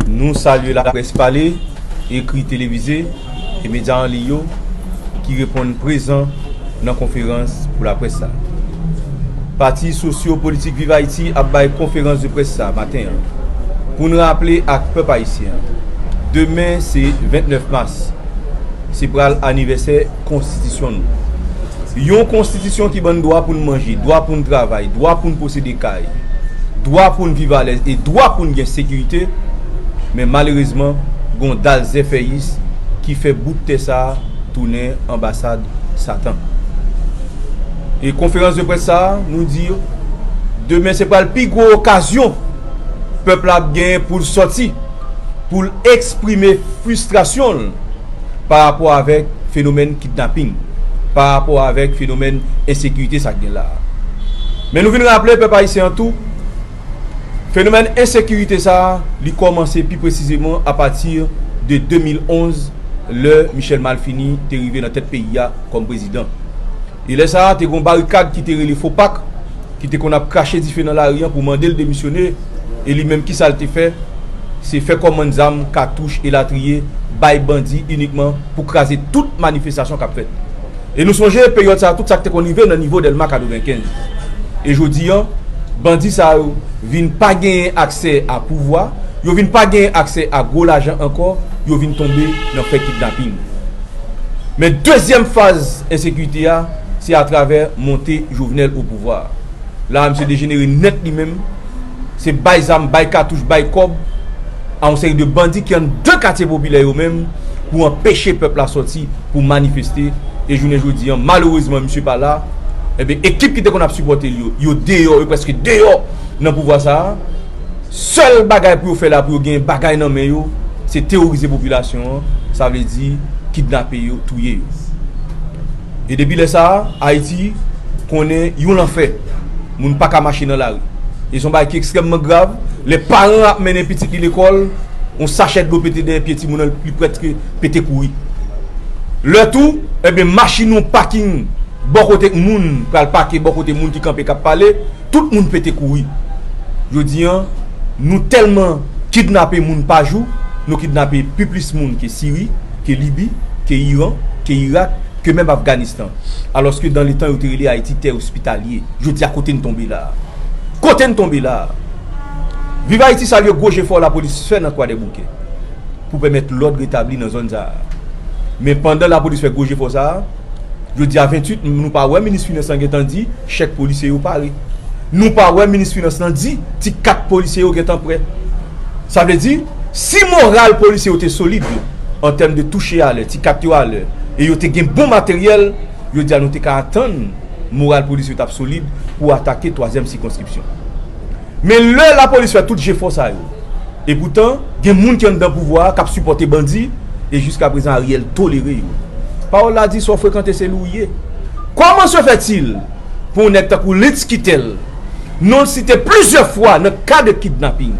Nou salye laprès pale, ekri, televize e medya an liy yo ki reponn prezan nan konferans pou laprès sa. Pati sosyo politik Viv Ayiti ap bay konferans de près sa maten an pou n raple ak pèp ayisyen demen se 29 mas se pral anivèsè konstitisyon nou. Yon konstitisyon ki ban n dwa pou n manje, dwa pou n travay, dwa pou n posede kay, dwa pou n viv alèz e dwa pou n gen sekirite, men malerezman gon dal zèfèyis ki fè bout tè sa a tounen anbasad satan. E konferans de près sa a nou di yo, demen se pral pi gwo okazyon pèp la ap genyen pou l sòti, pou l eksprime fristrasyon l, pa rapò avèk fenomèn kidnaping, pa rapò avèk fenomèn ensekirite sa k gen la a. Men nou vin raple pèp ayisyen an tou, fenomèn ensekirite sa a li kòmanse pi presizeman apati de 2011 lè Michel Malfini te rive nan tèt peyi a kòm prezidan. E lè sa a, te gen yon barikad ki te rele Fo Pak ki te konn ap krache dife nan lari an pou mande l demisyone. E li menm, ki sa l te fè? Se fè kòmann zam, katouch, elatriye bay bandi inikman pou kraze tout manifestasyon k ap fèt. E nou sonje peryòd sa a tout sa k te konn rive nan nivo Dèlma 95. E jodi an, bandi sa yo vin pa genyen aksè a pouvwa, yo vin pa genyen aksè a gwo lajan ankò, yo vin tonbe nan fè kidnapin. Men dezyèm faz ensekirite a, se atravè monte Jovenel o pouvwa a. La a misye dejenere nèt li menm, se bay zam, bay katouch, bay kòb a yon seri de bandi ki anndan katye popilè yo menm pou anpeche pèp la sòti pou manifeste e jounen jodi an malerezman misye pa la, enben ekip ki te konn ap sipòte l yo, yo deyò, yo prèske deyò nan pouvwa sa a. sèl bagay pou yo fè la pou yo gen bagay nan men yo se teworize popilasyon an sa vle di kidnape yo touye yo e depi lè sa ayiti konnen yon lanfè moun pa ka mache nan lari e son bagay ki ekstrèmman grav lè paran ap mennen pitit li lekòl yon sachè dlo pete dèyè pye timoun nan li prèske pete kouri lè tou enben machin yon paking bò kote moun pral pake bò kote moun ki kanpe kap pale. Tout moun pete kouri. Jodi an, nou tèlman kidnape moun pa jou, nou kidnape pi plis moun ke Siri, ke Libi, ke Iran, ke Irak, ke menm Afganistan. Alòske dan letan yo te rele Ayiti tè ospitalye. Jodi a kote n tonbe la a? Kote n tonbe la a? Viv Ayiti salye gwo jefò lapolis fè nan Kwadèboukè pou pèmèt lòd retabli nan zòn sa a. Men pandan lapolis fè gwo jefò sa a, Jodi a 28 nou pa wè minis finans lan gentan di chèk polisye yo pare. Nou pa wè minis finans lan di ti kat polisye yo gentan prè. Sa vle di si moral polisye yo te solid an tèm de touche a lè, ti kat yo a lè e yo te gen bon materyèl, jodi a nou te ka atann moral polisye yo t ap solid pou atake twazyèm sikonskripsyon. Men lè lapolis fè tout jefò sa yo epoutan gen moun ki anndan pouvwa a kap sipòte bandi e jiska prezan Ariel tolere yo. Pawòl la di sa w frekante se li w ye. Kòman se fè til pou yon nèg tankou Lintz Quitel non l site plizyè fwa nan ka de kidnaping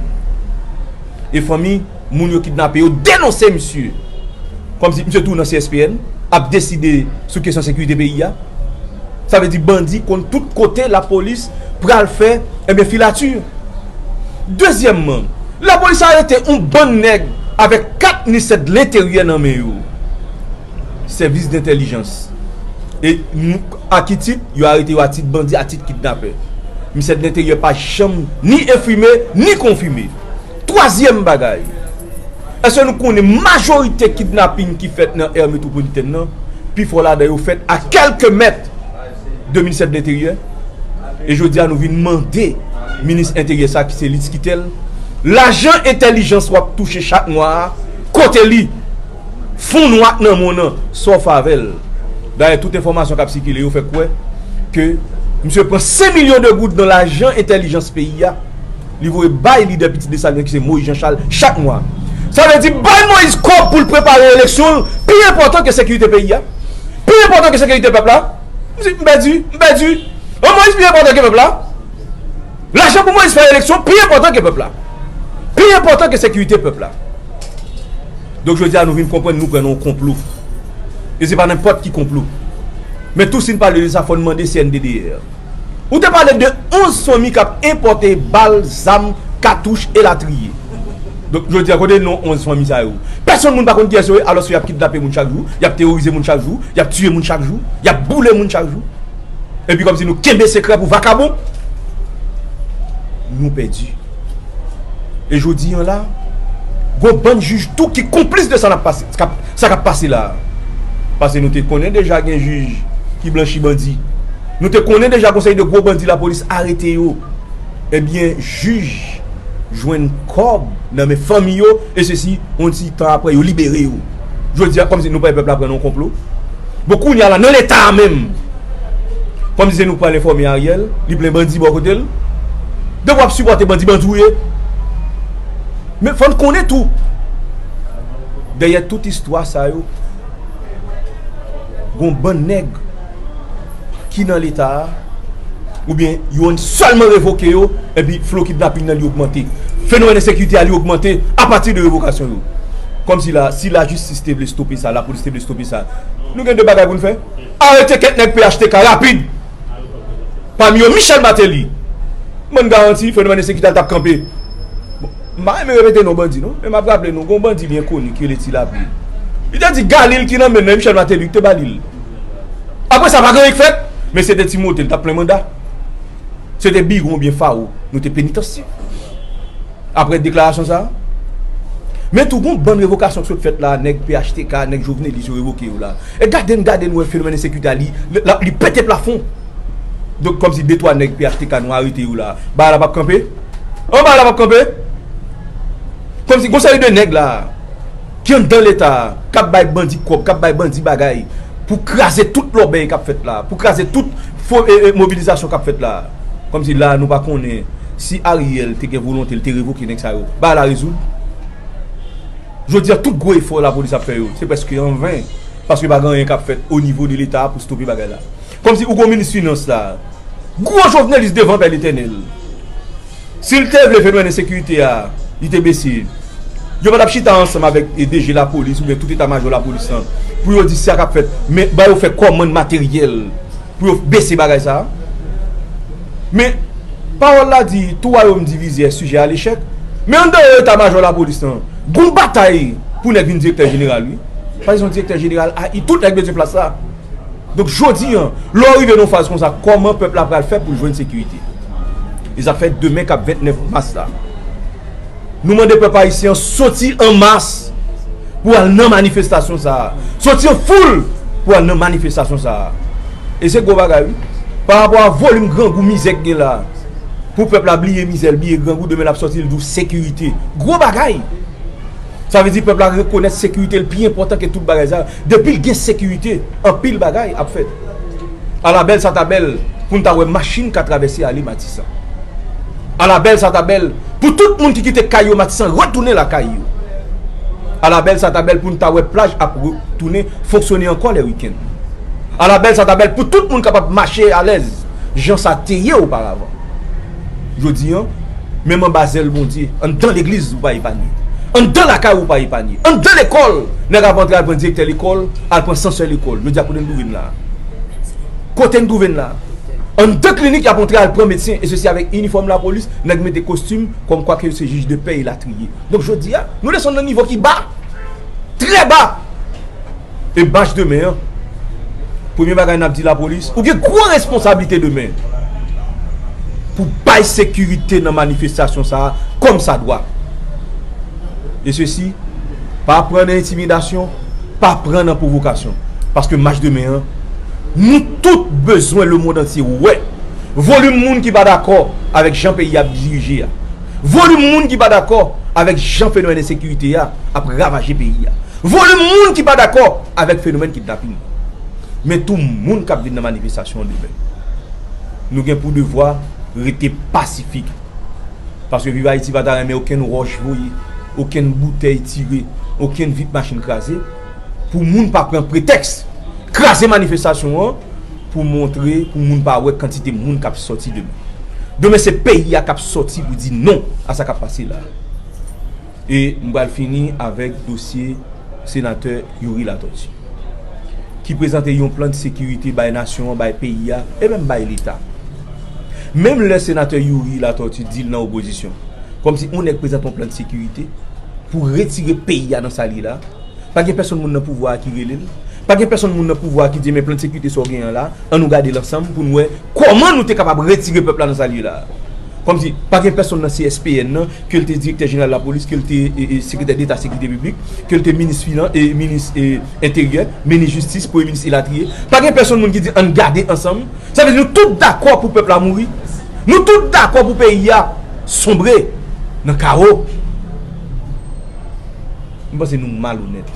e fanmi moun yo kidnape yo denonse misye kòm si misye tou nan CSPN ap deside sou kesyon sekirite peyi a sa vle di bandi konn tout kote lapolis pral fè ebyen filati dezyèmman lapolis arete yon bann nèg avèk 4 ministè de l'interieur nan men yo sèvis dentèlijans e nou a ki tit yo arete yo a tit bandi a tit kidnapè ministè de l'interieur pa janm ni enfime ni konfime Twazyèm bagay, èske nou konnen majorite kidnaping ki fèt nan Aire Métropolitaine nan, pi fò ladan yo fèt a kèlke mèt de Ministè de L'Intérieur? E jodi a nou vin mande Minis Enteryè sa ki se Litz Quitel, lajan entèlijans w ap touche chak mwa a, kote li? Fon nwa ak nan mòn an, sa w fè avè l? Dayè tout enfòmasyon k ap sikile yo fè kwè ke misye pran 5 milyon de goud nan lajan entèlijans peyi a. li voye bay lidè Pitit Desalin ki se Moyiz Janchal chak mwa. Sa vle di bay Moyiz kòb pou l prepare eleksyon l pi enpòtan ke sekirite peyi a? Pi enpòtan ke sekirite pèp la? M di, m pèdi, m pèdi. An Moyiz pi enpòtan ke pèp la? Lajan pou Moyiz fè eleksyon pi enpòtan ke pèp la? Pi enpòtan ke sekirite pèp la? Donk jodi a nou vin konprann nou pran nan yon konplo. E se pa nenpòt ki konplo. Men tou si n pale de sa fò n mande CNDDR. Ou te pale de 11 fanmi kap enpòte bal, zam, katouch elatriye. Donk jodi a kote non 11 fanmi sa yo? Pèsonn moun pa konn kiyès yo ye alòske yap kidnape moun chak jou, yap teworize moun chak jou, yap tiye moun chak jou, yap boule moun chak jou. Epi kòmsi nou kenbe sekrè pou vakabon. Nou pèdi. E jodi an la, gon bann jij tou ki konplis de sa nap pase, sa kap pase la a. Pase nou te konnen deja gen jij ki blanchi bandi. Nou te konnen deja gon seri de gwo bandi lapolis arete yo ebyen jij jwenn kòb nan men fanmi yo e sesi yon ti tan aprè yo libere yo jodi a kòm si nou pè pèp la pran nan yon konplo bon kounye a la nan leta a menm kòm si se nou k pral enfòme Ariel li plen bandi bò kote l depi w ap sipòte bandi bandi w ye men fò n konnen tou dèyè tout istwa sa yo gon bann nèg. ki nan leta a ou byen yon selman revoke yo epi flo kidnaping nan li ogmante fenomèn ensekirite a li ogmante apati de revokasyon yo kòm si la si la jistis te vle stope sa la polis te vle stope sa nou gen de bagay pou n fè arete kèk nèg phtk rapid pami yo michèl mateli mwen garanti fenomèn ensekirite a l tap kanpe m pa renmen repete non bandi non men m ap raple nou gon bandi byen koni ki rele ti lapli li te di galil ki nan men l nan e michèl mateli ki te ba li l. Apre sa, pa gen anyen k fèt. Men se te Timote, li t ap plen manda. Se te biwo oubyen fawo nou te penitansye. Apre deklarasyon sa a. Men tou gen yon bann revokasyon ki sot fèt la a, nèg phtk, nèg jovenelis yo revoke yo la a. E gade n gade n wè fenomèn ensekirite a li, li pete plafon. Donk kòmsi de twa nèg phtk nou arete yo la a, bagay la p ap kanpe? An bagay la p ap kanpe? Kòmsi gen yon seri de nèg la a. Ki anndan leta a, kap bay bandi kòb, kap bay bandi bagay pou kraze tout lòbèy kap fèt la a, pou kraze tout fo mobilizasyon kap fèt la a. Kòm si la a nou pa konnen si Ariel te gen volonte li te revoke nèg sa yo, bagay la rezoud. Jodi a tout gwo efò lapolis ap fè yo, se prèske an ven, paske pa gen anyen kap fèt o nivo de leta a pou stope bagay la. Kòm si ou gen yon minis finans la a, gwo jovnelis devan pè letènèl. Si l te vle fenomen ensekirite a, li te bese. Yo pa t ap chita ansanm avèk DG lapolis oubyen tout eta majò lapolis lan pou yo di sa k ap fèt men ba yo fè kòmand materyèl pou yo bese bagay sa a. Men, pawòl la di, tou wayòm divize è sijè a lechèk. Men andeyò eta majò lapolis lan, gon batay pou nèg vin direktè jeneral wi. Pase son direktè jeneral ai tout nèg bezwen plas la. Donk jodi an, lè w rive nan yon faz konsa, kòman pèp la pral fè pou l jwenn sekirite? E sa fè demen k ap 29 mas la, nou mande pèp ayisyen an soti an mas pou al nan manifestasyon sa a. Soti an foul pou al nan manifestasyon sa a. E se gwo bagay wi. Pa rapò a volim grangou, mizè ki gen la a. Pou pèp la bliye mizè l, bliye grangou, demen l ap soti l di w sekirite. Gwo bagay! Sa vle di pèp la rekonèt sekirite l pi enpòtan ke tout bagay sa yo. Depil gen sekirite anpil bagay ap fèt. Ala bèl sa ta bèl poun ta wè machin ka travèse ale matisan. Ala bèl sa ta bèl pou tout moun ki kite kay yo matisan retounen lakay yo. Ala bèl sa ta bèl poun ta wè plaj ap re tounen fonksyone ankò lè wikenn. Ala bèl sa ta bèl pou tout moun kapab mache alèz jan sa teye oparavan. Jodi an, menm anba zèl Bondye, anndan legliz ou pa epanye. Anndan lakay ou ou pa epanye. Anndan lekòl, nèg ap antre al pran direktè lekòl, al pran sansè lekòl. Jodi a kote n twouve n la a? Kote n twouve n la a? Anndan klinik y ap antre al pran medsen e sesi avèk inifòm lapolis, nèg mete kostim kòmkwa ke yo se jij de pè elatriye. Donk jodi a, nou desann nan nivo ki ba! Trè ba! E bach demen an? Premye bagay nap di lapolis, ou gen gwo responsablite demen pou bay sekirite nan manifestasyon sa a kòm sa dwa. E sesi, pa pran nan entimidasyon, pa pran nan pwovokasyon. Paske mach demen an, nou tout bezwen lemond antye wè volim moun ki pa dakò avèk jan peyi a ap dirije a. Volim moun ki pa dakò avèk jan fenomèn ensekirite a ap ravaje peyi a. Volim moun ki pa dakò avèk fenomèn kidnapin. Men tou moun k ap vin nan manifestasyon an demen. Nou gen pou devwa rete pasifik. Paske Viv Ayiti pa ta renmen okenn wòch voye, okenn boutèy tire, okenn vit machin kraze. Pou moun pa pran pretèks kraze manifestasyon an. pou montre pou moun pa wè kantite moun kap sòti demen. Demen se peyi a kap sòti pou di non a sa kap pase la. E m pral fini avèk dosye senatè Youri Latortue ki prezante yon plan de sekirite bay nasyon an, bay peyi a e menm bay leta. Menm lè senatè Youri Latortue di l nan opozisyon kòmsi yon nèg prezante yon plan de sekirite pou retire peyi a nan sa li la, pa gen pèsonn moun nan pouvwa a ki rele l. Pa gen pèsonn moun nan pouvwa a ki di men plan de sekirite sa w gen an la, an nou gade l ansanm pou n wè kòman nou te kapab retire pèp la nan sa l ye la a. Kòmsi, pa gen pèsonn nan CSPN nan, ke l te direktè jeneral lapolis, ke l te sekretè deta sekirite piblik, ke l te minis finan, minis enteryè, minis jistis, premye minis elatriye, pa gen pèsonn moun ki di an n gade ansanm, sa vle di nou tout dakò pou pèp la mouri, nou tout dakò pou peyi a sonbre nan kawo. M panse nou malonèt.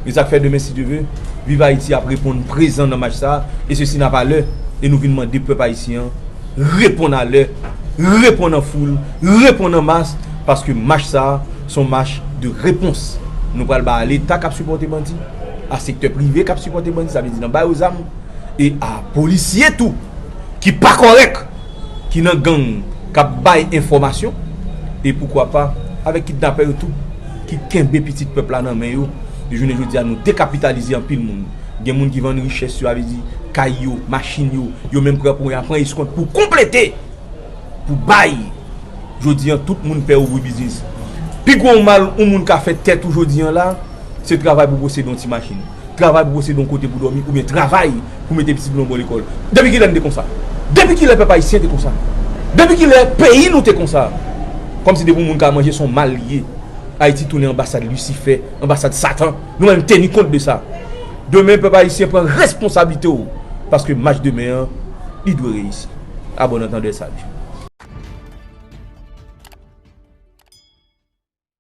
E sa k fè demen si Dye ve, Viv Ayiti ap reponn prezan nan mach sa a, e se si n ap a lè, e nou vin mande pèp ayisyen an reponn a lè, reponn an foul, reponn an mas, paske mach sa a s on mach de repons nou pral bay a Leta k ap sipòte bandi, a sektè prive k ap sipòte bandi, sa vle di nan ba yo zam, e a polisye tou ki pa kòrèk. ki nan gang kap bay enfòmasyon e poukwa pa avèk kidnapè yo tou ki kenbe pitit pèp la nan men yo e jounen jodi a nou dekapitalize anpil moun gen moun ki vann richès yo avè di kay yo machin yo yo menm pran pou ya pran eskont pou konplete pou bay jodi an tout moun pè ouvri biznis pi gwo mal ou moun ka fè tèt ou jodi an la. Se travay pou posede yon ti machin, travay pou posede yon kote pou dòmi oubyen travay pou mete pitit nou bò lekòl. Depi kilè n te konsa? Depi kilè pèp ayisyen te konsa? Depi kilè peyi nou te konsa? Kòmsi depi yon moun ka manje se yon mal li ye. Ayiti tounen anbasad lisifè, anbasad satan. Nou menm teni kont de sa. Demen pèp ayisyen pran responsablite w paske match demen an li dwe reyisi. A bòn antandè saj.